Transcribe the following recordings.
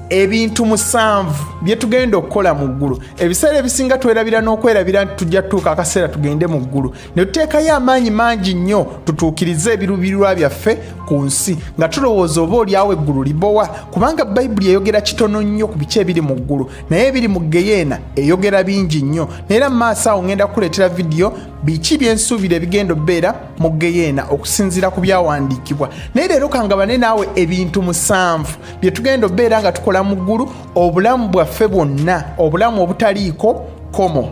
ebintu musanvu bye tugenda okukola mu ggulu ebiseera ebisinga twerabira n'okwerabira nti tujja tutuuka akaseera tugende mu ggulu ne tuteekayo amaanyi mangi nnyo tutuukirize ebirubirirwa byaffe ku nsi nga tulowooza oba olyawo eggulu libowa kubanga bayibuli eyogera kitono nnyo ku biki ebiri mu ggulu naye ebiri mu geyeena eyogera bingi nnyo naera mu maaso awo ngenda kukuleetera vidiyo biki byensuubira ebigenda obeera mu geyeena okusinziira ku byawandiikibwa naye leero kangabane naawe ebintu musanvu bye tugenda obeera nga tukola mu ggulu obulamu bwaffe bwonna obulamu obutaliiko komo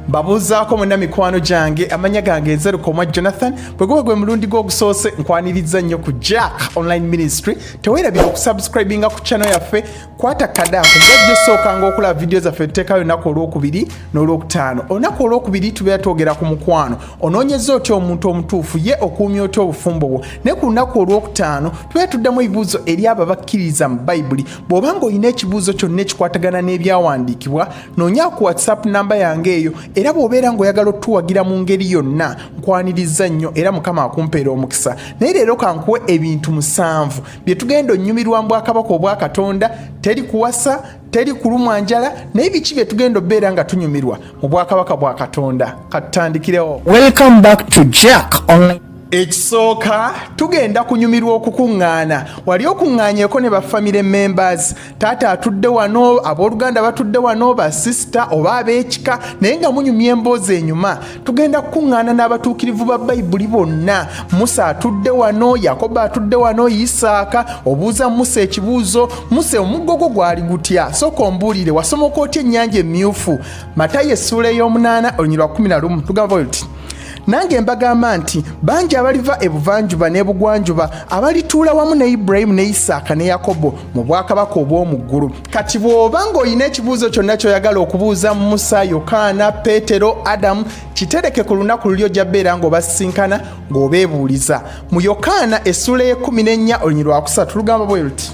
mbabuuzaako mwena mikwano gyange amanya gange ezerukomwa jonathan bwe guba gwe mulundi gwe ogusoose nkwaniriza nnyo ku jack online ministry tewerabira okusubscribinga ku channel yaffe kwata kada kugajja osookanga okulaba vidiyo zaffe tuteekayo olunaku olwokubiri n'olwokutaano olunaku olwokubiri tubeera twogera ku mukwano onoonyeza otya omuntu omutuufu ye okuumya otya obufumbo bwo naye ku lunaku olwokutaano tubeera tuddamu ebibuuzo eri abo abakkiririza mu bayibuli bw'oba nga olina ekibuuzo kyonna ekikwatagana n'ebyawandiikibwa noonya ku whatsapp namba yange eyo era bw'obeera ng'oyagala otuwagira mu ngeri yonna nkwanirizza nnyo era mukama akumpeera omukisa naye leero kankuwe ebintu musanvu bye tugenda onnyumirwa mu bwakabaka obwa katonda teri kuwasa teri kulumwa njala naye biki bye tugenda obeera nga tunyumirwa mu bwakabaka bwa katonda katutandikirewo welcome back to jack online ekisooka tugenda kunyumirwa okukuŋŋaana wali okuŋŋaanyeeko ne bafamire members taata atudde wano abooluganda batudde wano basisita oba ab'ekika naye nga munyumya emboozi enyuma tugenda kukuŋŋaana n'abatuukirivu ba bayibuli bonna musa atudde wano yakobo atudde wano isaaka obuuza musa ekibuuzo musa omuggo gwo gwali gutya sooka ombuulire wasomoka otya ennyanja emmyufu matayo essuula ey'omunaana olunyirwa 11 tugamba bwe luti nange mbagamba nti bangi abaliva ebuvanjuba n'ebugwanjuba abalituula wamu ne iburayimu ne isaaka ne yakobo mu bwakabaka obw'omu ggulu kati bw'oba ng'olina ekibuuzo kyonna ky'oyagala okubuuza musa yokaana peetero adamu kitereke ku lunaku luli ojja beera ng'obasisinkana ng'obeebuuliza mu yokaana essuula y'ekumi n'ennya olunyiri lwakusatu lugamba bwe luti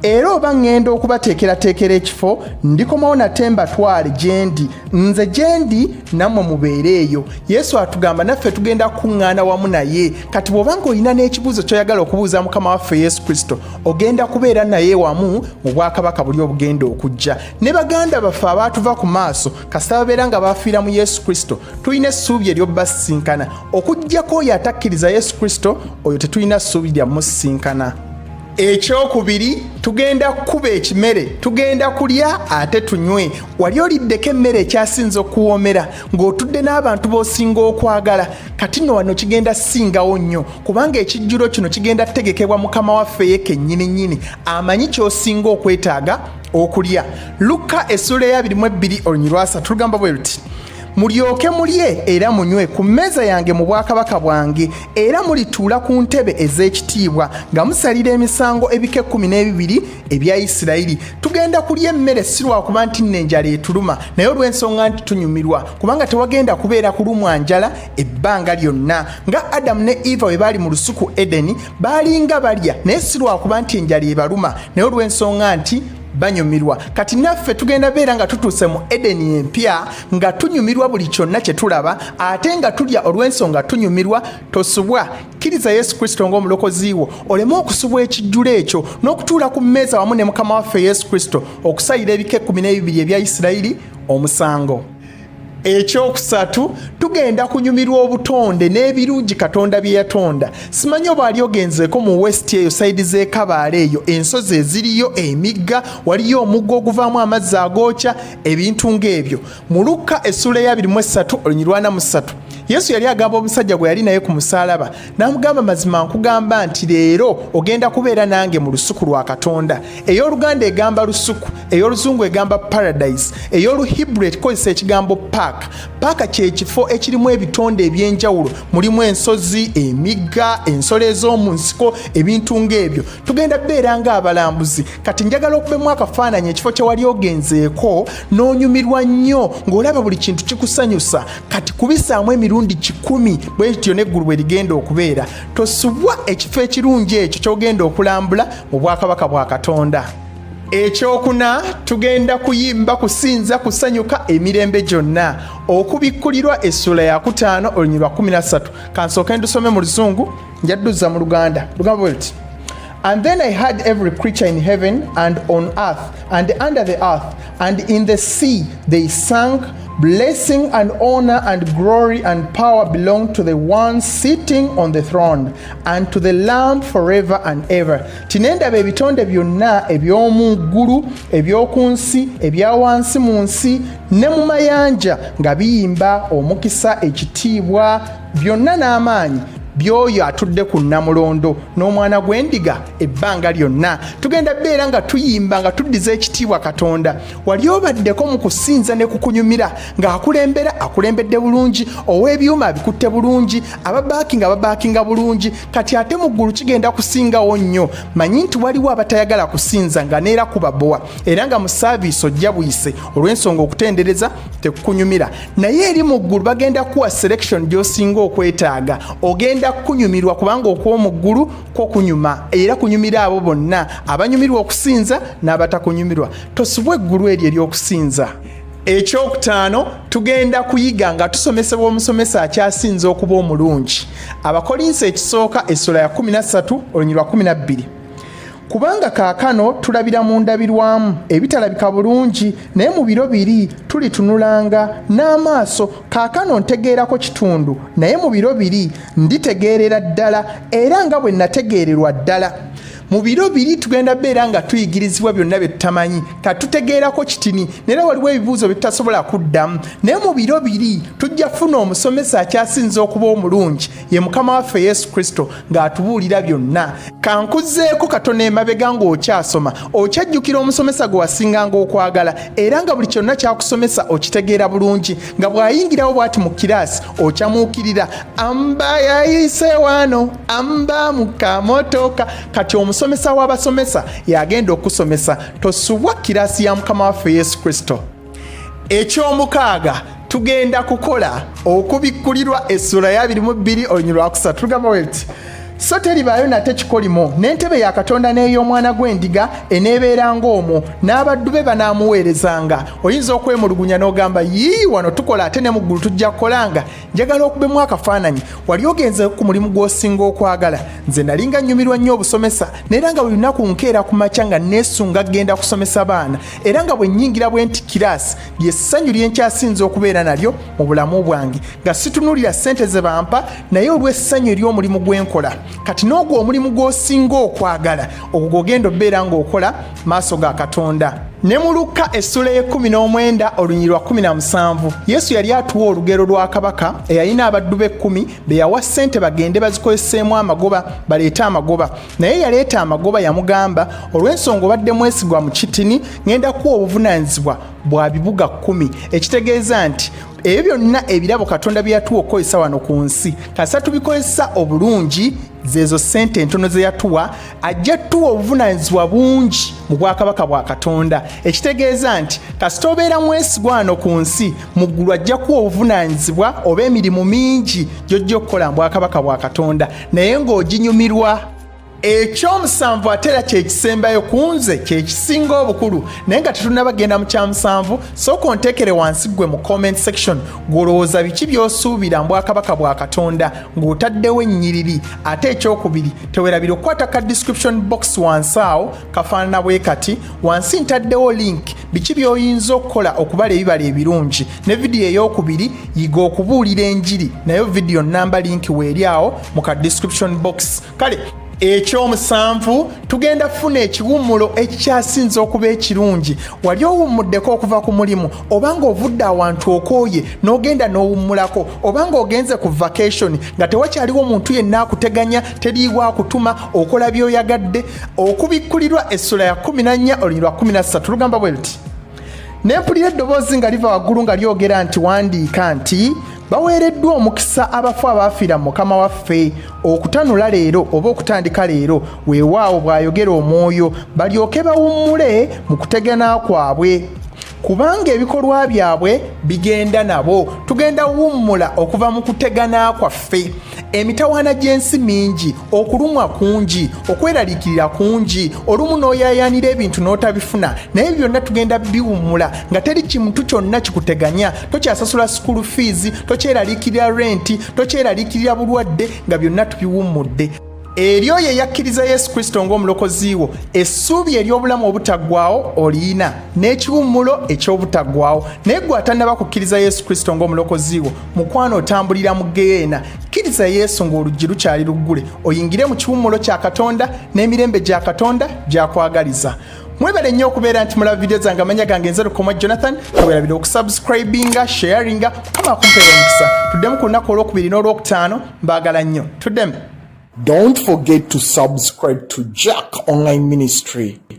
era oba ŋŋenda okubateekerateekera ekifo ndikomawo nate mbatwale gye ndi nze gye ndi nammwe mubeere eyo yesu atugamba naffe tugenda kukuŋŋaana wamu naye kati bw'oba ng'olina n'ekibuuzo ky'oyagala okubuuza mukama waffe yesu kristo ogenda kubeera naye wamu mu bwakabaka buli obugenda okujja ne baganda baffe abaatuva ku maaso kasita babeera nga bafiira mu yesu kristo tulina essuubi eryobasisinkana okugyako oyo atakkiriza yesu kristo oyo tetulina ssuubi lya musisinkana ekyokubiri tugenda kukuba ekimere tugenda kulya ate tunywe wali oliddeko emmere ekyasinza okuwoomera ng'otudde n'abantu b'osinga okwagala kati no wano kigenda singawo nnyo kubanga ekijjulo kino kigenda kutegekebwa mukama waffe ye kennyini nnyini amanyi ky'osinga okwetaaga okulya lukka essuula eyabiri mu ebbiri oluny lwasatu lugamba bwe luti mulyoke mulye era munywe ku mmeeza yange mu bwakabaka bwange era mulituula ku ntebe ez'ekitiibwa nga musalira emisango ebika ekkumi n'ebibiri ebya isirayiri tugenda kulya emmere si lwakuba nti nno enjala etuluma naye olw'ensonga nti tunyumirwa kubanga tewagenda kubeera kulumwa njala ebbanga lyonna nga adamu ne eva bwe baali mu lusuku edeni baalinga balya naye si lwakuba nti enjala ebaluma naye olw'ensonga nti banyumirwa kati naffe tugenda beera nga tutuuse mu edeni empya nga tunyumirwa buli kyonna kye tulaba ate nga tulya olw'ensonga tunyumirwa tosubwa kkiriza yesu kristo ng'omulokozi wo oleme okusubwa ekijjulo ekyo n'okutuula ku mmeeza wamu ne mukama waffe yesu kristo okusayira ebika ekkumi n'ebibiri ebya isirayiri omusango ekyokusatu tugenda kunyumirwa obutonde n'ebirungi katonda bye yatonda simanyi oba ali ogenzeeko mu west eyo sayidi z'ekabaala eyo ensozi eziriyo emigga waliyo omugga oguvaamu amazzi agookya ebintu ng'ebyo mu lukka essuula eyabiri mu essatu olunyirwana mu ssatu yesu yali agamba omusajja gwe yali naye ku musaalaba n'amugamba mazima nkugamba nti leero ogenda kubeera nange mu lusuku lwa katonda ey'oluganda egamba lusuku ey'oluzungu egamba paradise ey'oluhibru ekikozesa ekigambo paaka paaka kyekifo ekirimu ebitonde eby'enjawulo mulimu ensozi emigga ensolo ez'omu nsiko ebintu ng'ebyo tugenda beera ng'abalambuzi kati njagala okubemu akafaananyi ekifo kyewali ogenzeeko n'onyumirwa nnyo ng'olaba buli kintu kikusanyusa kati kubisaamu emirundi kikumi bwe kityo n'eggulu bwe ligenda okubeera tosubwa ekifo ekirungi ekyo ky'ogenda okulambula mu bwakabaka bwa katonda ekyokuna tugenda kuyimba kusinza kusanyuka emirembe gyonna okubikkulirwa essula yakutaano olunyirwa 13 kansooke ndusome mu luzungu njadduza mu luganda lugamba bwe luti And then I heard every creature in heaven and on earth and under the earth and in the sea they sang Blessing and honor and glory and power belong to the one sitting on the throne and to the Lamb forever and ever. Tinendaba ebitonde byonna eby'omu ggulu, eby'oku nsi, ebya wansi mu nsi ne mu mayanja nga biyimba omukisa, ekitiibwa byonna n'amaanyi by'oyo atudde ku nnamulondo n'omwana gw'endiga ebbanga lyonna tugenda beera nga tuyimba nga tuddiza ekitiibwa katonda wali obaddeko mu kusinza ne kukunyumira ng'akulembera akulembedde bulungi ow'ebyuma abikutte bulungi ababaakinga babaakinga bulungi kati ate mu ggulu kigenda kusingawo nnyo manyi nti waliwo abatayagala kusinza nga neera kubabowa era nga mu saaviisi ojja buyise olw'ensonga okutendereza tekukunyumira naye eri mu ggulu bagenda kuwa selection gyosinga okwetaaga ogenda kukunyumirwa kubanga okw'omu ggulu kwo kunyuma era kunyumira abo bonna abanyumirwa okusinza n'abatakunyumirwa tosubwa eggulu eryo ery'okusinza ekyokutaano tugenda kuyiga nga tusomesebwa omusomesa akyasinza okuba omulungi abakolinsi ekisooka essula ya 13 olunyirwa 12 kubanga kaakano tulabira mu ndabirwamu ebitalabika bulungi naye mu biro biri tulitunulanga n'amaaso kaakano ntegeerako kitundu naye mu biro biri nditegeerera ddala era nga bwe nategeererwa ddala mu biro biri tugenda beera nga tuyigirizibwa byonna bye tutamanyi ka tutegeerako kitini naera waliwo ebibuuzo bye tutasobola kuddamu naye mu biro biri tujja funa omusomesa akyasinza okuba omulungi ye mukama waffe yesu kristo ng'atubuulira byonna kankuzzeeko katono emabega ng'okyasoma okyajjukira omusomesa gwe wasinganga okwagala era nga buli kyonna kyakusomesa okitegeera bulungi nga bw'ayingirawo bw'ati mu kiraasi okyamuukirira amba yayise wano amba mu kamotoka kati omusomesa w'abasomesa yagenda okusomesa tosubwa kiraasi ya mukama waffe yesu kristo ekyomukaaga tugenda kukola okubikkulirwa essula ya biri mu bbiri oluny lwakusatu tugamba weti so teribaayo nate kikolimo n'entebe ya katonda n'ey'omwana gw'endiga eneebeera ng'omwo n'abaddu be banaamuweerezanga oyinza okwemulugunya n'ogamba yii wano tukola ate ne mu ggulu tujja kukolanga njagala okubemu akafaananyi wali ogenze ku mulimu gw'osinga okwagala nze nali nga nnyumirwa nnyo obusomesa neera nga buli lunaku nkeera ku makya nga neesunga kgenda kusomesa baana era nga bwe nnyingira bwe nti kiraasi lye ssanyu lye nkyasinze okubeera nalyo mu bulamu bwange nga situnuulira ssente ze bampa naye olw'essanyu ery'omulimu gwe nkola kati n'ogwo omulimu gw'osinga okwagala ogwo gwogenda obeera ng'okola maaso ga katonda ne mu lukka essula y'ekkumi n'omwenda olunyiri lwa kkumi na musanvu yesu yali atuwa olugero lwa kabaka eyalina abaddu b'ekkumi be yawa ssente bagende bazikoleseemu amagoba baleete amagoba naye yaleeta amagoba yamugamba olw'ensonga obadde mwesigwa mu kitini ngenda kuwa obuvunaanyizibwa bwa bibuga kkumi ekitegeeza nti ebyo byonna ebirabo katonda bye yatuwa okukozesa wano ku nsi kasa tubikozesa obulungi zeezo ssente entono ze yatuwa ajja tuwa obuvunaanyizibwa bungi mu bwakabaka bwa katonda ekitegeeza nti kasita obeera mwesigwa wano ku nsi mu ggulu ajja kuwa obuvunaanyizibwa oba emirimu mingi gy'ojja okukola mu bwakabaka bwa katonda naye ng'oginyumirwa ekyomusanvu ate era kyekisembayo ku nze kyekisinga obukulu naye nga tetunabagenda mu kyamusanvu sooka onteekere wansi ggwe mu comment section gw'olowooza biki by'osuubira mu bwakabaka bwa katonda ng'otaddewo ennyiriri ate ekyokubiri tewerabira okukwata ka description box wansi awo kafaanana bwe kati wansi ntaddewo link biki by'oyinza okukola okubala ebibala ebirungi ne vidiyo ey'okubiri yiga okubuulira enjiri nayo vidiyo namba linki weeri awo mu ka description box kale ekyomusanvu tugenda kufuna ekiwummulo ekikyasinze okuba ekirungi wali owummuddeko okuva ku mulimu oba ng'ovudde awantu okooye n'ogenda n'owummulako oba ng'ogenze ku vakationi nga tewakyaliwo muntu yenna akuteganya teriiwo akutuma okola by'oyagadde okubikkulirwa essula ya 14 olunyiriri lwa 13 lugamba bwe luti ne mpulira eddoboozi nga liva waggulu nga lyogera nti wandiika nti baweereddwa omukisa abafu abaafiira mu mukama waffe okutanula leero oba okutandika leero weewaawo bw'ayogera omwoyo balyoke bawummule mu kutegana kwabwe kubanga ebikolwa byabwe bigenda nabo tugenda wummula okuva mu kutegana kwaffe emitawaana gy'ensi mingi okulumwa kungi okweraliikirira kungi olumu n'oyayaanira ebintu n'otabifuna naye byonna tugenda biwummula nga teri kimuntu kyonna kikuteganya tokyasasula sukulu fiizi tokyeraliikirira renti tokyeraliikirira bulwadde nga byonna tubiwummudde eri oyo eyakkiriza yesu kristo ng'omulokozi wo essuubi ery'obulamu obutaggwawo oliyina n'ekiwummulo eky'obutaggwawo naye gwe atannaba kukkiriza yesu kristo ng'omulokozi wo mukwano otambulira mu geyeena kkiriza yesu ng'oluggi lukyali luggule oyingire mu kiwummulo kya katonda n'emirembe gya katonda gyakwagaliza mwebale nnyo okubeera nti mulaba vidiyo zange amanya gange nze lukoma jonathan tewerabira okusubscribinga sharinga kama kumpeera omukisa tuddemu ku lunaku olwokubiri n'olwokutaano mbagala nnyo tudemu Don't forget to subscribe to Jack Online Ministry.